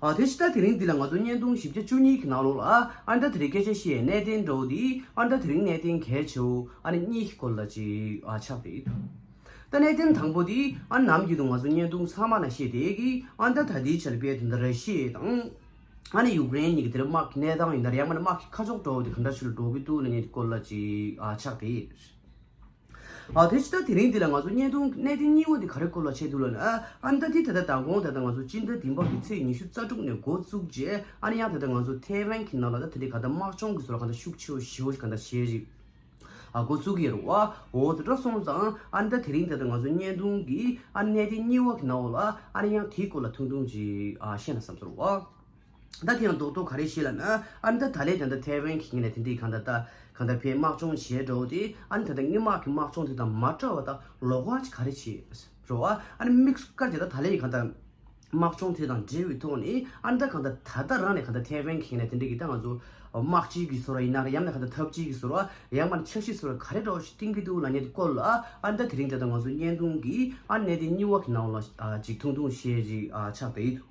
དེ་ཕྱི་ཟླ་དེ་རིང་འདི་ལ་ང་ཚོ་བརྙན་ཐུང་བཞི་བརྒྱ་བཅུ་གཉིས་ཀྱི་ནང་ལོགས་ལ་ཨ་མདའ་དེ་རིང་སྐད་ཆ་བཤད་གནས་བརྟན་འགྲོ་འདི་ཨ་མདའ་དེ་རིང་གནས་བརྟན་གལ་ཆེའོ་ཨ་ནི་གཉིས་ཀྱི་སྐོར་ལ་ཅིག་ཆགས་རེད་ད་གནས་བརྟན་དང་པོ་འདི་ཨ་ནམ་རྒྱུན་དུ་ང་ཚོ་བརྙན་ཐུང་ཚང་མ་ན་བཤད་དེ་གི་ཨ་མདའ་ད་ལྟའི་ཆར་དཔལ་དེ་འདྲ་རེད་ཤེས་དང་ཨ་ནི་ཡུཀ་རེན་གཉིས་ཀྱི་དེ་རིང་དམག་གི་གནས་སྟངས་ཡིན་ད་རེ་ཡང་མ་ནི་དམག་གི་ཁ་ཕྱོགས་འགྲོ་འདི་ག་འདྲ་ཆུ་ལ་འགྲོ་གི་འདུག་ན་གཉིས་ཀྱི་སྐོར་ལ་ཅིག་ཆགས་རེད། ཨ་དེ་ཅི་ད་དེ་རིང་འདི་ལ་ང་ཚོ་བརྙན་ཐུང་གནས་བརྟན་སྙིང་བོ་འདི་ག་རེ་ཁོ་ལ་བྱས་འདུག་ལབ་ན་ཨ་ཨ་ད་དེ་ད་ལྟ་ད་དགོངས་ད་ལྟ་ང་ཚོ་སྤྱི་ཟླ་འདི་འབབ་ཀྱི་ཚེས་ཉི་ཤུ་རྩ་དྲུག་ནས་འགོ་བཙུགས་རྗེས་ཨ་ནི་ཡང་ད་ལྟ་ང་ཚོ་ཐའེ་ཝན་གྱི་ནང་ལ་ད་དེ་འདྲའི་ག་ད་དམག་སྦྱོང་གི་བཟོ་ལ་ག་ད་ཤུགས་ཆེ་བོ་ཞི་བོ་ག་ད་བྱེད་རིགས་ཨ་འགོ་བཙུགས་ཀྱི་ཡོད་རེད་བ་འོ་དེ་འདྲ་སོང་ཙང་ཨ་ནི་ད་དེ་རིང་ད་ད་ང་ཚོ་བརྙན་ཐུང་གི་ཨ་ནི་གནས་བརྟན་སྙིང་བོ་གི་ནང་འོག་ལ་ཨ་ནི་ཡང་དེ་སྐོར་ལ་ཐུང་ཐུང་ཅིག་ཨ་བཤད་ན་བསམ་ཚོར་བ། ད་དེ་ཡང་རྡོག་རྡོག་ག་རེ་བྱེད་ལབ་ན། ཨ་ནི་ད་ད་ལས་ཀྱང་ད་ཐའེ་ཝན་གྱི་ངོས་ནས་དེ་འདྲའི་གང་ད་ད་གང་ད་བའི་དམག་སྦྱོང་བྱས་འགྲོ་དེ། ཨ་ནི་ད་ད་ངའི་དམག་གི་དམག་སྦྱོང་དེ་དང་མ་བྲལ་བ་ད་ལོག་བ་ཅི་ག་རེ་བྱེད་རོགས་ཨ། ཨ་ནི་དམིགས་བསལ་སྐར་ཆ་ད་ད་ལས་ཀྱི་གང་ད་དམག་སྦྱོང་དེ་དང་འབྲེལ་བའི་ཐོག་ནས་ཨ་ནི་ད་གང་ད་ད་ད་རང་ནས་གང་ད་ཐའེ་ཝན་གྱི་ངོས་ནས་དེ་འདྲའི་གི་ད་ང་ཚོ་དམག་སྤྱི་གི་ཟུར་བ་ཡིན་ན་རེད་ཡང་མིན་ན་གང་ད་ཐབས་སྤྱི་གི་ཟུར་བ་ཡང་མ་ནི་ཆབ་སྲིད་ཟུར་བ་ག་རེ་རོགས་ཞིག་བཏིང་གི་འདུག་ལ་ཉེ་དུ་བཀོད་ལ། ཨ་ནི་ད་དེ་རིང་ད་ད་ང་ཚོ་བརྙན་ཐུང་གིས་ཨ་ནི་གནས་དེ་སྙི་བ་གི་ནང་ལ་ཅིག་ཐུང་ཐུང་ཞེས་ཅིག་ཆགས་བསྡད་ཡོད་དོ།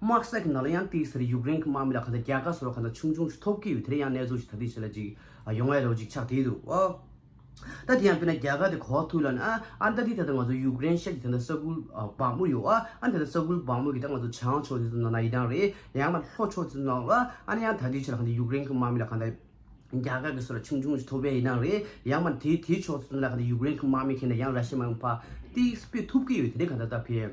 དམག་ས་ཀྱི་ནང་ལ་ཡང་དེའི་ཟེར་ཡུཀ་རེན་གྱི་དམག་མི་ལ་ག་ད་རྒྱ་གར་སོགས་ལ་ག་ད་ཆུང་ཆུང་ཞིག་ཐོབ་ཀྱི་ཡོད་དེ་རིང་ཡང་གནས་ཚུལ་ཞིག་ད་དུས་ཆེ་ལ་ཅིག་ཡོང་བའི་ལོ་ཅིག་ཆགས་བྲིས་འདུག་ཨོ། ད་དེ་ཡང་དཔེར་ན་རྒྱ་གར་དེ་གོ་ཐུག་ལ་ན་ཨ་ད་དེ་ད་ད་ང་ཚོ་ཡུཀ་རེན་ཤར་གྱི་དེ་ད་ས་ཁུལ་བག་མོ་ཡོད་ཨ་ད་ད་ས་ཁུལ་བག་མོ་གི་ད་ང་ཚོ་བྱང་ཕྱོགས་དེ་ཚོ་ནང་ན་ཡི་དྭགས་རེད་ཡང་ན་ལྷོ་ཕྱོགས་དེ་ཚོ་ནང་ཨ་ན་ཡང་ད་དུས་ཆེ་ལ་ག་ད་ཡུཀ་རེན་གྱི་དམག་མི་ལ་ག་ད་རྒྱ་གར་གྱི་སོ་ལ་ཆུང་ཆུང་ཞིག་ཐོབ་པའི་ཡི་དྭགས་རེད་ཡང་མ་དེའི་དེའི་ཕྱོགས་དེ་ཚོ་ནང་ལ་ག་ད་ཡུཀ་རེན་གྱི་དམག་མི་ཁེ་ན་ཡང་ར་ཤི་མ་ཡོང་ཕ་ཏིས་ཕེ་ཐུབ་ཀྱི་ཡོད་དེ་རིང་ག་ད་ད་ཕེ།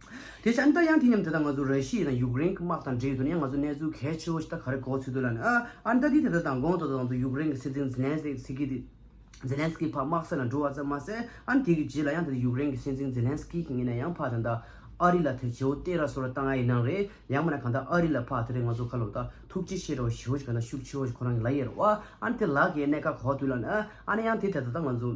དེ་བྱས་ནས་ད་ཡང་དེ་མཉམ་དེ་དང་ང་ཚོ་ར་ཤི་ཡའི་དང་ཡུག་རེན་གྱི་དམག་དང་འབྲེལ་ཡོད་དུ་ནས་ཡང་ང་ཚོ་གནས་ཚུལ་གལ་ཆེ་བོ་ཞིག་ད་ག་རེ་གོ་ཚུལ་འདུག་ལ་ནི་ཨ་ཨ་ནི་ད་དེ་དེ་ལྟར་དང་དགོངས་དོ་དོ་དང་ཚུལ་ཡུག་རེན་གྱི་སྲིད་འཛིན་ཛི་ལན་སི་ཀི་དེ་ཛི་ལན་སི་ཀི་ཕ་དམག་སེར་ལ་འགྲོ་བ་ཙམ་མ་ཟད་ཨ་ནི་དེ་གི་རྗེས་ལ་ཡང་ད་དེ་ཡུག་རེན་གྱི་སྲིད་འཛིན་ཛི་ལན་སི་ཀི་གི་ངེད་ནས་ཡང་ཕ་དང་ད་ཨ་རི་ལ་ཐེ་བྱེའུ་བསྟན་ར་སོ་ར་བཏང་ཨ་ཡི་ནང་རེད་ཡང་མ་ན་གང་ད་ཨ་རི་ལ་ཕ་དེ་རེ་ང་ཚོ་ཁ་ལོ་ད་ཐུགས་རྗེ་ཆེ་རོ་ཞེའུ་ཞིག་གང་ད་ཤུགས་ཆེ་བོ་ཞིག་ཁོ་རང་གི་ལ་ཡེར་བ་ཨ་ནི་དེ་ལ་གའི་གནད་ཀ་གོ་དུས་ལ་ནི་ཨ་ཨ་ནི་ཡང་དེ་དེ་ད་ད་ང་ཚོ།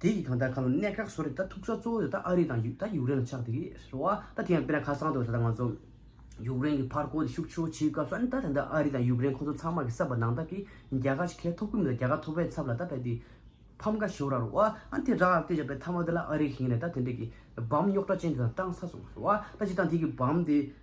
དེ་ཡིག་ཐང་ད་ཁ་ལོ་གནད་འགག་བཟོ་རེད་ད་ཐུག་ས་གཙོ་བོ་ཡོད་ད་ཨ་རི་དང་ད་ཡུག་རེན་ལ་ཆགས་དེ་རེད་བ་ད་དེ་ཡང་དཔེར་ན་ཁ་སང་དུ་ད་ང་ཚོ་ཡུག་རེན་གི་ཕར་རྐོ་དེ་ཤུགས་ཆེའོ་བྱེད་སྐབས་སུ་ད་དེ་འདྲ་ཨ་རི་དང་ཡུག་རེན་ཁོང་ཚོ་ཚང་མ་གི་བསབ་པ་ནང་ད་གི་རྒྱ་གར་གྱི་ཁལ་ཐོབ་གི་མི་ད་རྒྱ་གར་ཐོབ་པའི་ཚབ་ལ་ད་ད་དེ་ཕམ་ཁ་ཞོ་ར་རོ་བ་ཨ་དེ་ར་དེ་ཞག་པའི་ཐ་མ་དེ་ལ་ཨ་རི་གི་ཡིན་རེད་ད་དེ་འདྲ་གི་བམ་རྙོག་དྲ་ཅན་དེ་དང་བཏང་ས་སོང་རོ་བ་ད་ཅི་དང་དེ་གི་བམ་དེ།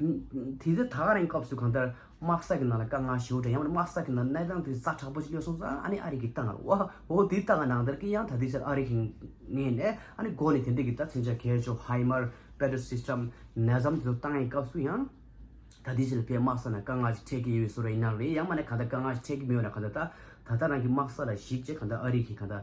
དེ་ད་ག་རང་གི་སྐབས་སུ་གང་ལྟར་དམག་ས་ཀྱི་ནང་ལ་དཀའ་ངལ་ཞེ་བོ་འདྲ་ཡང་མོད་དམག་ས་ཀྱི་ནང་གནས་སྟངས་དེ་ཙག་དྲག་པོ་ཞིག་ཡོད་སོང་ཟ་ཨ་ནི་ཨ་རིག་གི་ཏང་ཨ་འོ་དེ་ལྟ་ག་ནང་ལྟར་གྱི་ཡང་ད་དེ་ཕྱིར་ཨ་རིག་གི་ངེས་ནས་ཨ་ནི་སྒོ་ནས་དེ་འདྲ་གི་ད་མཚོན་ཆ་གས་ཆོག་ཧའི་མར Better System ནས་བཟའ་མཚོ་ཏང་ཨའི་སྐབས་སུ་ཡང་ད་དེ་ཕྱིར་ཕའི་དམག་ས་ནང་དཀའ་ངལ་ཞིག་འཕྲད་ཀྱི་ཡོད་སོང་རེད་ཡིན་ནའང་རེད་ཡང་མ་ནས་གང་ལྟར་དཀའ་ངལ་ཞིག་འཕྲད་ཀྱི་མོད་ན་གང་ལྟར་ད་ད་ད་རང་གི་དམག་ས་ལ་གཞིགས་རྗེས་གང་ལྟར་ཨ་རིག་གི་གང་ལྟར་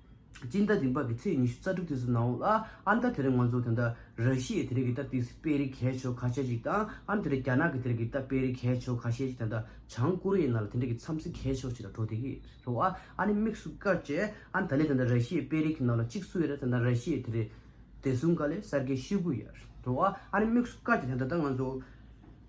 སྤྱི་ཟླ་འདི་འབབ་པའི་ཚེས་ཉི་ཤུ་རྩ་དྲུག་ཚེས་སུ་ནའོ། ཨ་མདའ་དེ་རིང་ང་ཚོ་དེ་འདྲ་ར་ཤི་ཡའི་དེ་རིང་གི་སྟབས་ཏིག་སི་པེ་རི་གྷའི་ཆོལ་ཁ་ཤས་ཤིག་དང་ཨ་དེ་རིང་རྒྱ་ནག་གི་དེ་རིང་གི་སྟབས་པེ་རི་གྷའི་ཆོལ་ཁ་ཤས་ཤིག་དེ་འདྲ་བྱང་ཀོ་རི་ཡའི་ནང་ལ་དེ་འདྲ་གི་མཚམས་སི་གྷའི་ཕྱོགས་ཤིག་ལ་འགྲོ་དེ་གི་རེད་ཨ་ཨ་ནི་དམིགས་སུ་བཀར་ཅེ་ཨ་ད་ལི་དེ་འདྲ་ར་ཤི་ཡའི་པེ་རི་གྷའི་ནང་ལ་གཅིག་སུ་ཡོད་དེ་འདྲ་ར་ཤི་ཡའི་དེ་རིང་བདེ་སྲུང་ག་ལས་གསར་སྐྱེས་ཤི་གུ་ཡ་རེད་ཨ་ཨ་ནི་དམིགས་སུ་བཀར་ཅེ་དེ་འདྲ་ད་ང་ཚོ།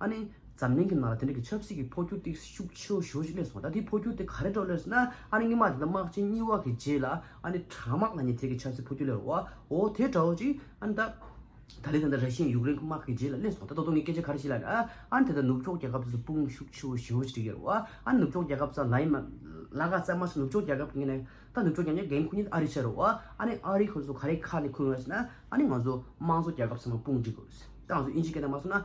ཨ་ནི། འཛམ་གླིང་གི་ནང་ལ་དེ་འདྲ་གི་ཆབ་སྲིད་ཀྱི་འཕོ་འགྱུར་ཏི་ཤུགས་ཆེ་བོ་ཞུ་ཞིག་གནས་སོང་ད་དེའི་འཕོ་འགྱུར་དེ་ག་རེ་འགྲོ་ལོས་ན་ཨ་ནི་སྔོན་མ་དེ་འདྲ་དམག་ཆེན་གཉིས་དབར་གྱི་རྗེས་ལ་ཨ་ནི་དྲག་དམག་ལ་ཉེ་ཐད་ཀྱི་ཆབ་སྲིད་འཕོ་འགྱུར་ལས་རོ་ཨོ་དེ་འདྲ་བོ་ཅིག་ཨ་ནི་ད། ད་ལི་ད་ནི་ར་ཤི་ཡའི་ཡུག་རེན་གི་དམག་གི་རྗེས་ལ་གནས་སོང་ད་ད་དུང་ངས་སྐད་ཆ་ག་རེ་བཤད་ལ་ན་ཨ་ནི་དེ་ལྟར་ནུབ་ཕྱོགས་རྒྱལ་ཁབ་དེ་ཚོ་དཔུང་ཤུགས་ཆེ་བོ་ཞི་བོ་ཅིག་བསྒྲིག་ཡོད་རེད་ཨ་ནི་ནུབ་ཕྱོགས་རྒྱལ་ཁབ་ཚོ་ལ་ཡིན་མ་ལ་ག་ཚད་མ་ཚོ་ནུབ་ཕྱོགས་རྒྱལ་ཁབ་ཀྱི་ངོས་ནས་ད་ནུབ་ཕྱོགས་རྒྱལ་ཁབ་འགན་ཁུར་ཉེན་ཨ་རི་ཤོར་རོ་ཨ་ནི་ཨ་རི་ཁོ་ཚོ་ག་རེ་ཁ་ནས་ཁུར་ངོས་ལོས་ན་ཨ་ནི་ང་ཚོ་དམངས་གཙོ་རྒྱལ་ཁབ་ཚང་མ་དཔུང་བསྒྲིག་དགོས་ད་ང་ཚོ་དབྱིན་ཇིའི་སྐད་ནས་མ་གསུངས་ན་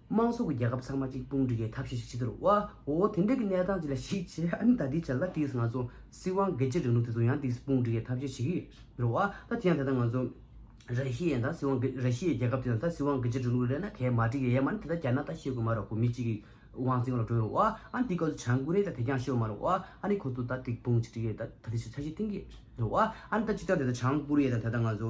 དམངས་སྲོལ་གྱི་རྒྱལ་ཁབ་ཚང་མ་གཅིག་དཔུང་སྒྲིལ་གྱིས་ཐབས་ཤེས་ཤིག་བྱེད་དུ་རུང། བ་འོ་དེ་འདྲའི་གི་གནས་སྟངས་ཅིག་ལ་ཞིག་བྱེད་ཨ་ནི་ད་དེའི་ཆ་ལ་དེའི་ང་ཚོ་སྲིད་དབང་སྒེར་གཅོད་རིང་ལུགས་དེ་ཚོ་ཡང་དེའི་དཔུང་སྒྲིལ་གྱིས་ཐབས་ཤེས་བྱེད་ཀྱི་རུང། བ་ད་དེ་ཡང་དེ་ད་ང་ཚོ་ར་ཤི་ཡའི་ད་སྲིད་དབང་སྒེར་ར་ཤི་ཡའི་རྒྱལ་ཁབ་དེ་ད་སྲིད་དབང་སྒེར་གཅོད་རིང་ལུགས་ལས་ན་གས་མ་བྲིས་ཀྱི་ཡས་མ་ནི་དེ་ད་རྒྱ་ནག་ད་ཤེས་དགོས་མ་རུང་བ་མི་གཅིག་གི་དབང་ཚིང་ལ་གྲོས་རུང། བ་ཨ་ནི་དེའི་སྐབས་སུ་བྱང་ཀོ་རེ་ད་དེ་རྒྱང་ཤེས་དགོས་མ་རུང། བ་ཨ་ནི་ཁོ་ཚོ་ད་དེའི་དཔུང་གཅིག་སྒྲིལ་གྱིས་ད་དེ་ཆ་ཆ་ཤེས་གཏིང་གི་རུང། བ་ཨ་ནི་ད་ཅིག་ཀྱང་དེ་ད་བྱང་ཀོ་རེ་ཡའི་ད་དེ་ད་ང་ཚོ་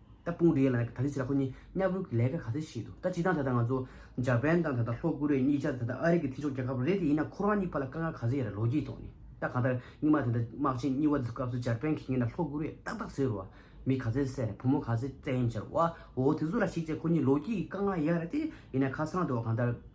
ད་དཔུང་སྡེའི་ལག་ནས་ད་ལི་སི་ལ་ཁོ་གཉིས་གཉའ་བོའི་གི་ལས་ཀ་ག་ཚད་བྱས་འདུག་ད་ཇི་ལྟངས་ད་ལྟ་ང་ཚོ་འཇར་པན་དང་ད་ལྟ་ལྷོ་ཀོ་རེ་གཉིས་ཀྱང་ད་ལྟ་ཨ་རི་གི་ཐེ་ཆོག་རྒྱལ་ཁབ་རེད་དེ་ཡིན་ན་ཁོ་རང་གཉིས་བར་ལ་དཀའ་ངལ་ག་ཚད་ཡོད་རེད་ལོ་རྒྱུས་ཐོག་ནས་ད་གང་ལྟར་སྙིང་མ་དེ་འདྲ་དམག་ཆེན་གཉིས་བ་འཛུགས་སྐབས་སུ་འཇར་པན་གི་ངེད་ལ་ལྷོ་ཀོ་རེ་ཏག་ཏག་ཟེར་བ་མི་ག་ཚད་བསད་རེད་བུ་མོ་ག་ཚད་བཙན་གཡེམ་བྱས་རེད་བ་འོ་དེ་ཚོ་ལ་ཞིག་བྱས་ཁོ་གཉིས་ལོ་རྒྱུས་ཀྱི་དཀའ་ངལ་ཡག་རེད་དེ་ཡིན་ན་ཁ་སང་དུ་བ་གང་ལྟར།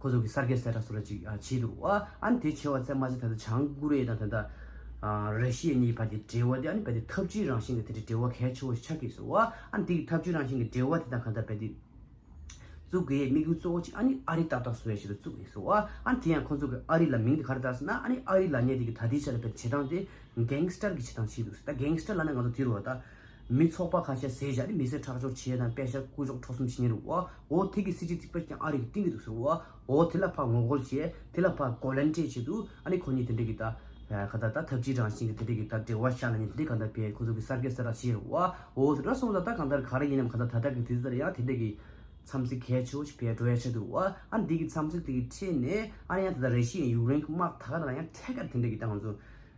ཁོ་ཚོ་གི་སར་གེ་སེ་ར་སུ་ར་ཅིག་བྱེད་འདུག་ཨ་ཨཱན་དེ་བྱེད་བ་ཚད་མ་ཚད་ད་ལྟ་བྱང་ཀོ་རེ་ཡ་དང་ད་ལྟ་ར་ཤི་ཡ་གཉིས་ཀྱི་བར་གྱི་འབྲེལ་བ་དེ་ཨ་ནི་རྦད་དེ་འཐབ་ཇུས་རང་བཞིན་གྱི་དེ་འདྲའི་འབྲེལ་བ་གལ་ཆེ་བོ་ཞིག་ཆགས་ཀྱི་སོ་ཨ་ཨཱན་དེ་གི་འཐབ་ཇུས་རང་བཞིན་གྱི་འབྲེལ་བ་དེ་དང་ག་ད་རྦད་དེ་བཙུགས་དགོས་ཡའི་དམིགས་ཡུལ་གཙོ་བོ་གཅིག་ཨ་ནི་ཨ་རི་ཏག་ཏག་སུ་ཡ་ཞིག་ཏུ་བཙུགས་ཡིན་སོ་ཨ་ཨཱན་དེ་ཡང་ཁོ་ཚོ་གི་ཨ་རི་ལ་མིང་དེ་ག་རེ་བཏགས་སོ་ན་ཨ་ནི་ཨ་རི་ལ་ཉེ་དེ་གི་ད་དེའི་ཆ་ལ་རྦད་དེ་བྱེད་སྟངས་དེ་གེངས་སྟར་གྱི་བྱེད་སྟངས་བྱེད་འདུག་ད་གེངས་སྟར་ལ་ན་ང་ཚོ་དེ་རུ་བ་ད། མི་ཚོགས་པ་ཁ་ཤས་ཟས་བཞག་ནས་མི་སེར་ཁྲག་སྦྱོར་བྱས་དང་དཔེ་ཞབས་སྐུ་གཞོགས་ཁྲོ་གསུམ་བྱེད་ཉེ་རུ་འོ་འོ་དེ་གི་སྲིད་སྤྱི་ཚིག་པ་རྐྱང་ཨ་རི་གི་སྟེང་གི་འདུག་ཟེར་འོ་འོ་དེ་ལ་ཕར་ངོ་རྒོལ་བྱས་དེ་ལ་ཕར་གོ་ལན་སྤྲད་བྱས་འདུག་ཨ་ནི་ཁོ་གཉིས་དེ་འདྲས་ཀི་ད་ག་ད་ད་ཐབས་ཅི་རང་བཞིན་གི་དེ་འདྲས་ཀི་ད་འབྲེལ་བ་ཤར་ན་ནི་དེ་འདྲས་ག་འདྲ་བས་ཁོ་ཚོ་གི་གསར་སྐད་གསར་ར་བྱས་རུ་འོ་འོ་དེ་འདྲ་སོང་ད་ད་ག་འདར་ག་ར་ཡིན་ནམ་ག་ད་ད་ད་གི་དུས་ཚོད་ལྟར་ཡང་དེ་འདྲས་ཀི་འཚམས་གཟིགས་གལ་ཆེ་བོ་ཞིག་བས་འགྲོ་ཡ་ཆེ་འདུག་འོ་ཨ་ནི་དེ་གི་འཚམས་གཟིགས་དེ་གི་ཁྲེད་ནས་ཨ་ར་ཡང་དེ་ད་རེ་ཤི་ཡན་ཡུག་རེན་གི་དམག་ད་ག་ད་ཡང་ཐད་ཀར་དེ་འདྲས་ཀི་ད་ང་ཚོ་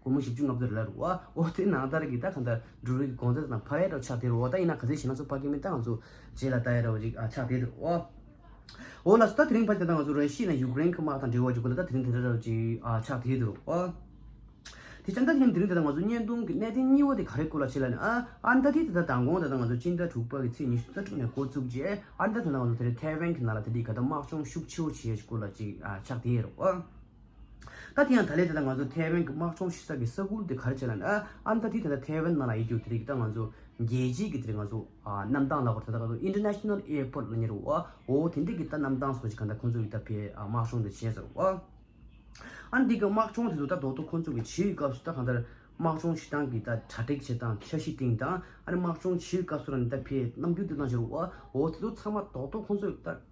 སྒོར་མོ་བཞི་བཅུ་ལྔ་བརྒྱ་རེ་ལ་རུ་ཨོ་དེ་ནང་ལྟར་གི་ད་གང་ལྟར་འབྲུ་རིགས་གོང་ཚད་དང་ཕ་ཡས་རོ་ཆགས་དེ་རུ་ཨོ་ད་ཡིན་ན་ག་ཚད་བྱེད་ན་ཚོད་དཔག་གི་མི་ད་ང་ཚོ་རྗེས་ལ་ད་ཡས་རོ་རིགས་ཆགས་དེ་རུ་ཨོ་ཨོ་ལ་སོ་ད་དེ་རིང་ཕ་ལྟ་ད་ང་ཚོ་རོན་ཤིས་ན་ཡུག་རེན་གི་དམག་དང་འབྲེལ་བ་རྒྱུག་གི་ལ་ད་དེ་རིང་དེ་རེ་རོ་རིགས་ཆགས་དེ་རུ་ཨོ་དེ་ཅང་ད་དེ་རིང་དེ་རིང་ད་ད་ང་ཚོ་བརྙན་ཐུང་གི་གནས་བརྟན་གཉིས་བོ་དེ་ག་རེ་སྐོར་ལ་བྱེད་ལ་ནི་ཨ་ཨ་ད་དེ་ད་ད་དང་གོང་ད་ད་ང་ཚོ་སྤྱི་ཟླ་དྲུག་པ་གི་ཚེས་ཉི་ཤུ་རྩ་དྲུག་ནས་འགོ་བཙུགས་རྗེས་ཨ་ད་ད་ང་ཚོ་དེ་རིང་ཐའེ་ཝན་གི་ནང་ལ་ད་དེ་ག་ད་དམག་སྦྱོང་ཤུགས་ཆེ་བོ་བྱེད་ཡས་སྐོར་ལ་རིགས་ཆགས་དེ་རུ་ཨོ། ད་དེ་ཡང་ད་ལས་དེ་ད་ང་ཚོ་ཐའེ་ཝན་གྱི་དམག་སྦྱོང་ཤི་ས་གི་ས་ཁུལ་དེ་གར་བྱས་ན་ཨ་ཨམ་ད་དེ་ད་ཐའེ་ཝན་ནང་ལ་ཡི་གྱུར་དེ་རིགས་ད་ང་ཚོ་རྒྱལ་སྤྱིའི་གི་དེ་རིགས་ང་ཚོ་གནམ་ཐང་ལ་གོ་ད་ད་ང་ཚོ International Airport ལ་ཉེ་རུ་ཨོ་ཨོ་དེ་འདྲས་གི་ད་གནམ་ཐང་སོགས་ཀྱི་ག་ད་ཁོང་ཚོ་གི་ད་ཕའི་དམག་སྦྱོང་དེ་བྱས་ཟེར་རོ། ཨཱ་འདི་གི་དམག་སྦྱོང་དེ་ཚོ་ད་རྡོག་ཐོ་ཁོང་ཚོ་གི་བྱེད་ཡུལ་སྐབས་སུ་ད་གང་ལྟར་དམག་སྦྱོང་བྱེད་སྟངས་ཀྱི་ད་གྲ་སྒྲིག་བྱེད་སྟངས་ཁྱད་གཞི་སྟེང་དང་ཨ་རེ་དམག་སྦྱོང་བྱེད་ཡུལ་སྐབས་སུ་རང་གི་ད་ཕའི་རྣམ་འགྱུར་དེ་ཚོ་ད་བྱེད་རོ་ཨོ་ཨོ་དེ་ཚོ་ཚང་མ་རྡོག་ཐོ་ཁོང་ཚོ་གི་ད།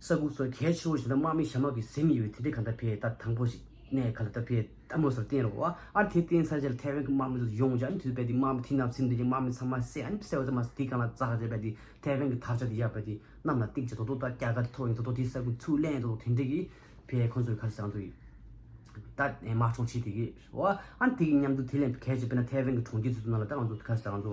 ས་ཁུག་སོགས་གལ་ཆེ་བོ་ཞིག་ན་དམག་མི་ཞྭ་དམག་གིས་གཟིམ་ཡོད་པའི་དེ་འདྲའི་ག་ད་ཕེ་ད་དང་པོ་ཞིག་གནས་ག་ལ་ད་ཕེ་ད་མོ་སོར་བསྟན་རོགས་ཨ་དེ་བསྟན་ཚར་རྗེས་ལ་ཐའེ་ཝན་གྱི་དམག་མི་ཚོ་ཡོངས་ཀྱང་དུས་བབ་དེ་དམག་མི་ཐིག་ནག་ཚིག་འདོན་ཅིང་དམག་མི་ཚང་མ་བསད་ཨ་བསད་བོ་ཙམ་མ་ཟད་དེ་གང་ལ་བཙག་བྱས་པ་དེ་ཐའེ་ཝན་གྱི་དར་ཆ་དེ་བཞག་པ་དེ་གནམ་ལ་བཏེགས་རྗེས་དོ་དོ་ད་སྐྱ་ག་དེ་ཐོག་ཡིན་དོ་དོ་དེ་ས་ཁུག་ཚུར་གླན་དོ་དོ་དེ་འདྲའི་གི་ཕེ་ཁོ་ཚོའི་ཁར་སང་དུ་ཡིན་ད་དམག་གྲོང་ཆེ་དེ་གི་རོགས་ཨ་དེ་གི་མཉམ་དུ་དེ་ལས་གལ་ཆེ་བོ་ན་ཐའེ་ཝན་གྱི་གྲོང་ཁྱེར་ཚུལ་དུ་ན་ལ་ད་ང་ཚོ་ཁར་སང་དུ།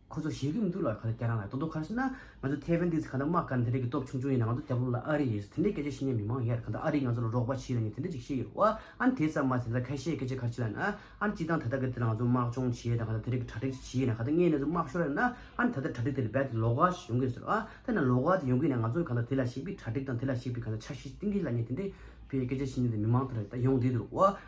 ཁོ་ཚོ་ཞེ་གི་མི་འདུག་ལ་ག་ལ་རྒྱ་ནག་ལ་རྡོག་རྡོག་ཁ་ཤོན་ན་ང་ཚོ་ཐའེ་ཝན་དེ་ཚོ་ག་འདྲ་དམག་དཀར་འདི་འདྲ་གི་སྟོབས་ཆུང་ཆུང་ཡིན་ན་ང་ཚོ་རྒྱ་ལོ་ལ་ཨ་རི་ཡིན་སོ་དེ་འདྲའི་སྐད་ཆ་བཤད་ཉན་མི་མང་ཡར་ག་འདྲ་ཨ་རི་ང་ཚོ་ལ་རོགས་པ་བྱེད་ལ་ནི་དེ་འདྲ་ཅིག་བཤད་ཡོད་ཨ་ནི་དེ་ཙམ་མ་དེ་འདྲ་ཁ་ཤས་སྐད་ཆ་གར་བྱེད་ལ་ན་ཨ་ནི་སྤྱི་བཏང་ད་ལྟ་གི་དེ་ལ་ང་ཚོ་དམག་སྦྱོང་བྱེད་དང་ག་ལ་དེ་རིགས་གི་གྲ་སྒྲིག་བྱེད་ཡིན་ན་ག་ད་ངའི་གནས་ཚུལ་དམག་ཤོར་ཡ་ན་ཨ་ནི་ད་ལྟ་གྲ་སྒྲིག་དེ་ལ་རྦད་དེ་ལོག་ག་ཞིག་ཡོང་གི་སོ་ཨ་ད་ན་ལོག་ག་དེ་ཡོང་གི་ཡིན་ན་ང་ཚོ་ག་ད་དེ་ལ་ཞིག་པའི་གྲ་སྒྲིག་དང་དེ་ལ་ཞིག་པའི་ག་ད་ཆ་ཤས་གཏིང་གི་ལ་ཉེ་དེ་འདྲའི་བའི་སྐད་ཆ་བཤད་ཉན་དེ་མི་མང་དེ་ར་ད་ཡོང་བསྡད་འདུག་ཨ།